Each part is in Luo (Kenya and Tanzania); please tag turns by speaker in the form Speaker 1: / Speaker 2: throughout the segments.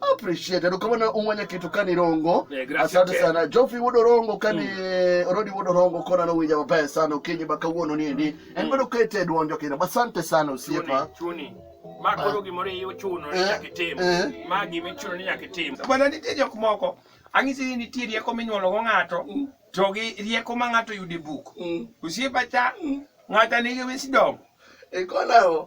Speaker 1: appreciate ndikubona umwanya kitu kani rongo eh, asante sana jofi wudo rongo kani mm. Eh, rodi wudo rongo kona no winja maber sana ukinyi baka wuono ni ndi mm. en bedo kete duonjo kina basante sana usiepa chuni ma koro ah. gimoro iyo chuno ni eh, nyaka itim ma gima ichuno ni nyaka itim bwana nitie jok moko ang'isi ni nitie rieko minyuolo go ng'ato mm. to gi rieko ma ng'ato yude buk usiepa cha ng'ata nigi wisdom ikona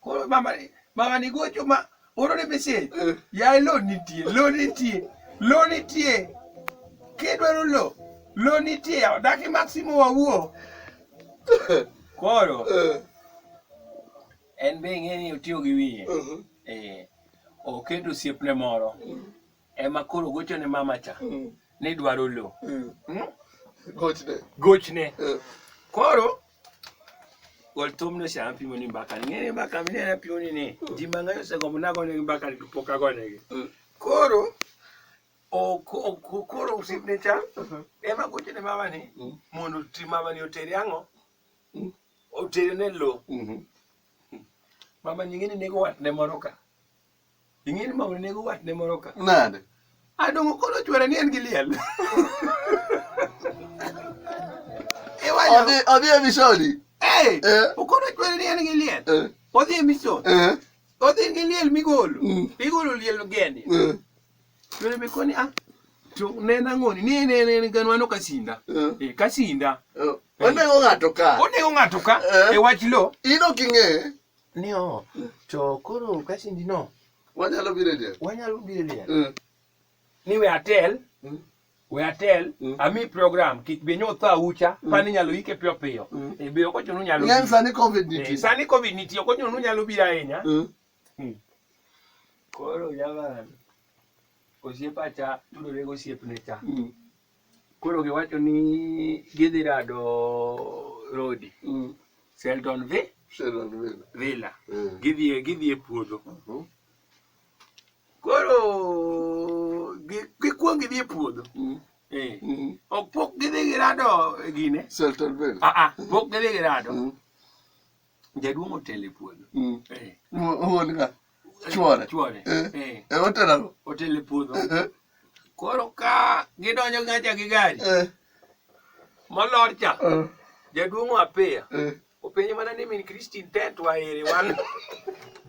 Speaker 1: koro mama ni mama ni gocho ma oro ne message Eh. yaye lo nitie lo nitie lo nitie kidwaro lo lo nitie yawa daki maximo wawuo koro Eh, en be ing'e ni otiyo gi wiye mhm. eh, oketo osiepne moro ema koro gocho ne mama cha mm. ni dwaro lo mm. hmm? gochne gochne eh. koro gol thum no saa pimo ni mbaka ni ng'e mbaka mi ne pimo ni ni mm. ji mang'eny osegombo nagonegi mbaka ni pok agonegi koro koro usipne cha uh-huh. ema gocho ne mama ni mondo ti mama ni oteri ang'o oteri ne lo mm-hmm. mama nying'e ni nego watne moro ka Ing'eni ma onego watne moro ka. Nade? Adongo koro chwere ni en gi liel. Odhi odhi e misoni. Eh. Okono chwere ni en gi liel. Eh. Odhi e misoni. Eh. Odhi gi liel migolo. Mm. Igolo liel geni. Eh. Chwere mi koni ah. To nena ng'oni ni ne ne ne ganwa no kasinda. Eh, eh kasinda. Eh. Onego ng'ato ka. Onego ng'ato ka. E wach lo. Ino king'e. ni o to koro kasindi no Wanyalo biro e del. wanyalo biro e liel Mm. ni we atel Mm. we atel Mm. ami program kik be nyo tho aucha pani nyalo ike piyo piyo Mm. e be okocho nu nyalo Ng'eny biro. sani covid Eh, nitie. sani covid nitie okocho nu nyalo biro ahinya Mm. koro jaman osiepacha tudore gosiepne cha Mm. Koro giwacho ni gidhi rado rodi mm. Seldon vi Seldon Villa, Villa. Mm. gidhi gidhi e puodho mm -hmm. koro gikwong gidhi e puodho mm. eh. mm -hmm. ok pok gidhi girado gine Seldon Villa ah ah pok gidhi girado mm. Jaduong' otelo e puodho. Mm. Eh. Wuon ka chwore. Chwore. Eh. Eh. eh otelo. Otelo e puodho. Eh. Koro ka gidonjo ngacha gi gari. Eh. Molor cha. Eh. Jaduong' apeya. Eh. Openjo mana ni min Christine tent waere wan.